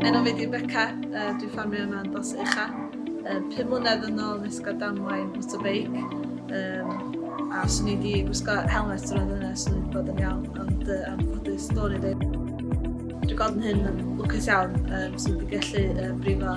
Enw fi di Beca, uh, dwi'n ffarmio yma yn Dos Ucha. Uh, pum mlynedd yn ôl nes gael damwain motorbike. Um, a swn i di gwisgo helmet yr oedd yna, swn i wedi bod yn iawn, ond uh, am ffodus dod i ddim. Dwi'n gweld yn hyn yn lwcus iawn, um, swn i wedi gallu uh, brifo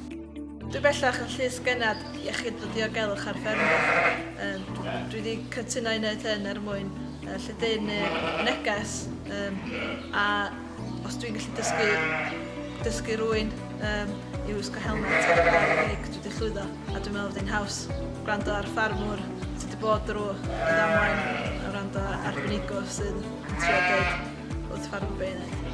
Dwi bellach yn llys gennad iechyd a diogelwch ar ffermydd. Dwi wedi cytuno i wneud hyn er mwyn lledaenu neu'r neges a os dwi'n gallu dysgu, dysgu rwy'n um, i wisgo helmet ar gael y gig, dwi wedi llwyddo a dwi'n meddwl bod hi'n haws gwrando ar ffarmwr sydd wedi bod drwy y ddamwain a gwrando ar arbenigwr sy'n trio dweud wrth ffarmwr beth i wneud.